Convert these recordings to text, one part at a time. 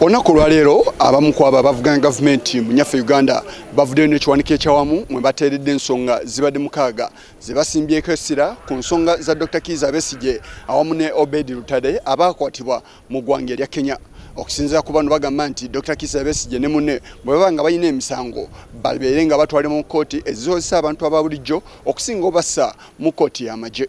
olunaku olwaleero abamu ku abo abavuganya gavumenti mu nyaffe uganda bavuddeyo n'ekiwanika ekyawamu mwe bateeredde ensonga zibadde mukaaga ze basimbyeko essira ku nsonga za dr kiiza besigye awamu ne obedi lutade abaakwatibwa mu ggwanga erya kenya okusinzira ku bano bagamba nti dr kisa besigye ne munne bwe baba nga balina emisango babeere nga batwale mu kkooti ezikozesa abantu aba bulijjo okusinga obassa mu kkooti y'amagye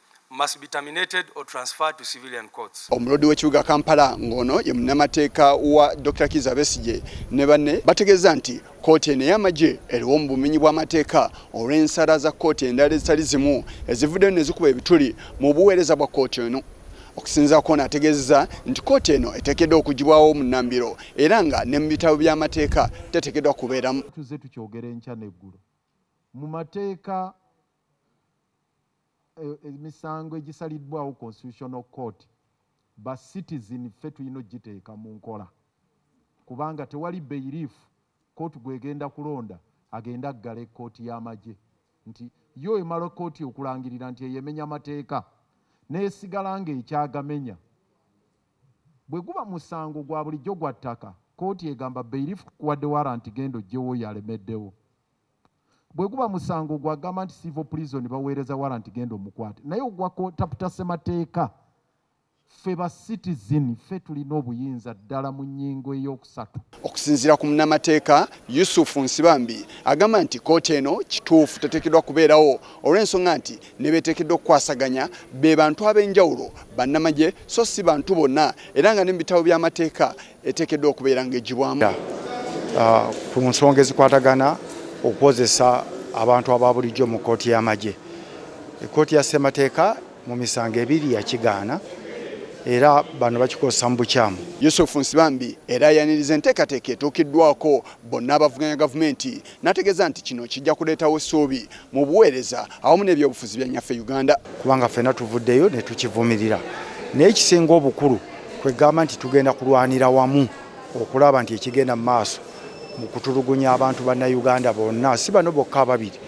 must be terminated or transferred to civilian courts. Omulodi w'ekibuga Kampala ng'ono ye munnamateeka wa Dr. Kiza Besigye ne banne bategeeza nti kkooti eno ey'amagye eriwo mu bumenyi bw'amateeka olw'ensala za kkooti endala ezitali zimu ezivuddeyo ne zikuba ebituli mu buweereza bwa kkooti eno. okusinza kwona ategeezeza nti kkooti eno eteekeddwa okugibwawo mu nnambiro era nga ne mu bitabo by'amateeka teteekeddwa kubeeramu. tuze tukyogera enkya n'eggulo mu mateeka emisango egisaliddwawo constitutional court ba citizen ffe tulina ogiteeka mu nkola kubanga tewali bailiff court gwegenda kulonda agende aggale court yamagye nti yo emala court okulangirira nti eyo emenya mateeka nesigala nga ekyagamenya bweguba musango gwa bulijjo gwa ttaka court egamba bailiff kukuwadde warrant genda ojjewo oyo alemeddewo Bweguba musango gwa gamba nti civil prison bawereza warrant genda omukwate naye ogwa ko taputa ssemateka ffe ba citizen ffe tulina obuyinza ddala mu nyingo eyokusatu. Okusinzira ku munamateeka Yusuf Nsibambi agamba nti kooti eno kituufu tetekedwa kubeerawo olw'ensonga nti nebetekedwa okukwasaganya be bantu ab'enjawulo bannamagye so si bantu bonna era nga ne mu bitabo by'amateeka eteekeddwa okubeera ng'egibwamu ah, ku nsonga ezikwatagana okukozesa abantu aba bulijjo mu kkooti y'amagye ekkooti ya ssemateeka mu misango ebiri yakigaana era bano bakikozesa mu bukyamu yusufu nsibambi era ayaniriza enteekateeka etuukiddwako bonna abavuganya gavumenti n'ategeeza nti kino kijja kuleetawo essuubi mu buweereza awamu n'ebyobufuzi bya nyaffe uganda kubanga ffena tuvuddeyo ne tukivumirira naye ekisinga obukulu kwegamba nti tugenda kulwanira wamu okulaba nti ekigenda mu maaso mu kutulugunya abantu bannayuganda bonna si bano bokka ababiri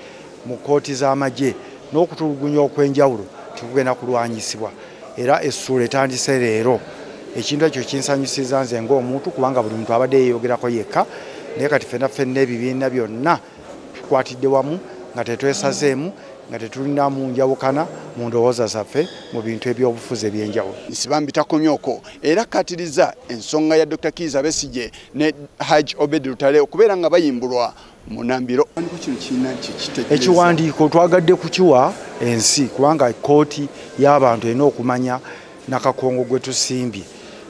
mu kkooti z'amagye n'okutulugunya okw'enjawulo tekugenda kulwanyisibwa era essuula etandise leero ekintu ekyo kinsanyusiza nze ng'omuntu kubanga buli muntu abadde yeeyogerako yekka naye kati fenna fenna ebibiina byonna tukwatidde wamu nga tetwesazeemu nga tetulina mu njawukana mu ndowooza zaffe mu bintu ebyobufuzi ebyenjawulo nsibambi takomyoko era akkatiriza ensonga ya dr kiiza besigye ne haj obedi lutale okubeera nga bayimbulwa munambiro ekiwandiiko twagadde kukiwa ensi kubanga kooti y'abantu erina okumanya nakakongo gwe tusimbye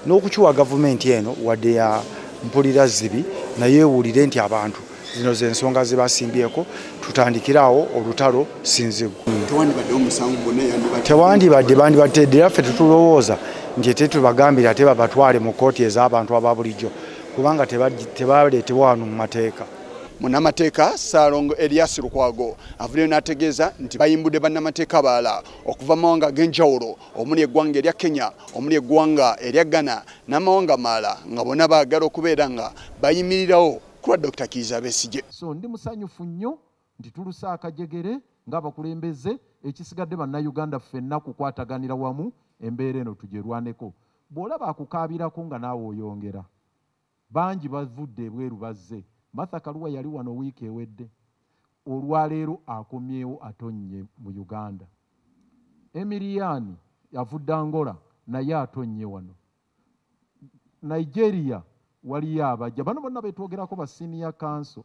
n'okukiwa gavumenti eno wadde ya mpulira zibi naye ewulire nti abantu zino zensonga zibasimbyeko tutandikiraawo olutalo sinzigu tewandibadde bandibadde era ffe tetulowooza nti tetubagambira ate babatwale mu kooti ez'abantu aba bulijjo kubanga tebaleetebwa wano mu mateeka munamateeka salongo elias lukwago avuddeyo n'ategeeza nti bayimbudde bannamateeka abalala okuva mumawanga ag'enjawulo omuli eggwanga erya kenya omuli eggwanga erya ghana n'amawanga maala nga bona baagala okubeera nga bayimirirawo kulwa dr kiiza besigye so ndi musanyufu nnyo nti tuluse akajegere ng'abakulembeze ekisigadde bannayuganda ffenna kukwataganira wamu embeera eno tugyerwaneko Bw'olaba akukaabirako nga naawe oyongera. Bangi bavudde ebweru bazze. Martha Karua yali wano wiiki ewedde. Olwaleero akomyewo atonnye mu Uganda. Emiriani avudde Angola naye atonnye wano. Nigeria waliyo abajja. Bano bonna be twogerako ba Senior Council.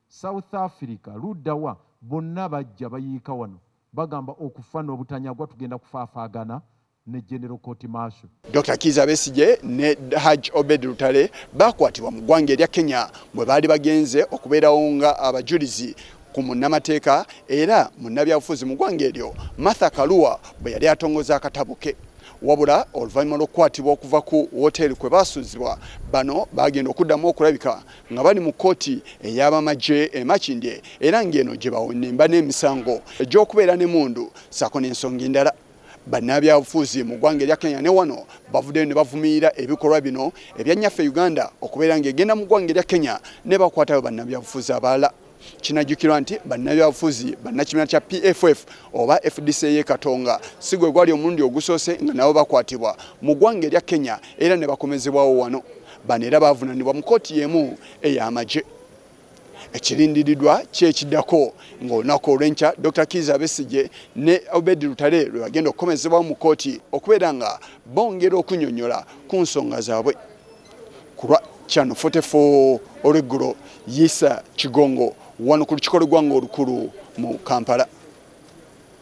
South Africa, ludda wa? Bonna bajja bayiika wano. Bagamba okufa n'obutanyagwa tugenda kufaafaagana ne General Court Marshal. Dr Kiiza Besigye ne Haj Obed Lutale baakwatibwa mu ggwanga erya Kenya mwe baali bagenze okubeerawo nga abajulizi ku munnamateeka era munnabyabufuzi mu ggwanga eryo Martha Kaluwa bwe yali atongoza akatabo ke wabula oluvannyuma lw'okukwatibwa okuva ku woteeri kwe baasuuzibwa bano baagenda okuddamu okulabika nga bali mu kkooti ey'abamagye emakindye era ng'eno gye bawenemba n'emisango egy'okubeera ne mundu saako n'ensonga endala bannabyabufuzi mu ggwanga erya kenya ne wano bavuddeyo ne bavumirira ebikolwa bino ebyannyaffe e uganda okubeera ng'egenda mu ggwanga erya kenya ne bakwatayo bannabyabufuzi abalala kinajjukirwa nti bannabyabufuzi bannakibiina kya pff oba fdc ye katonga si gwe gwali omulundi ogusoose nga nabo bakwatibwa mu ggwanga erya kenya era ne bakomezebwawo wano bano era baavunanibwa mu kooti y'emu ey'amagye ekirindiridwa kyekidako ngaolunaku olwenkya dr kiza besigye ne obedi lutale lwebagenda okukomezebwawo mu kooti okubeera nga bongera okunyonyola ku nsonga zaabwe kulwa kyano 44 olweggulo yisa kigongo wano ku lukiko lwegwanga olukulu mu kampala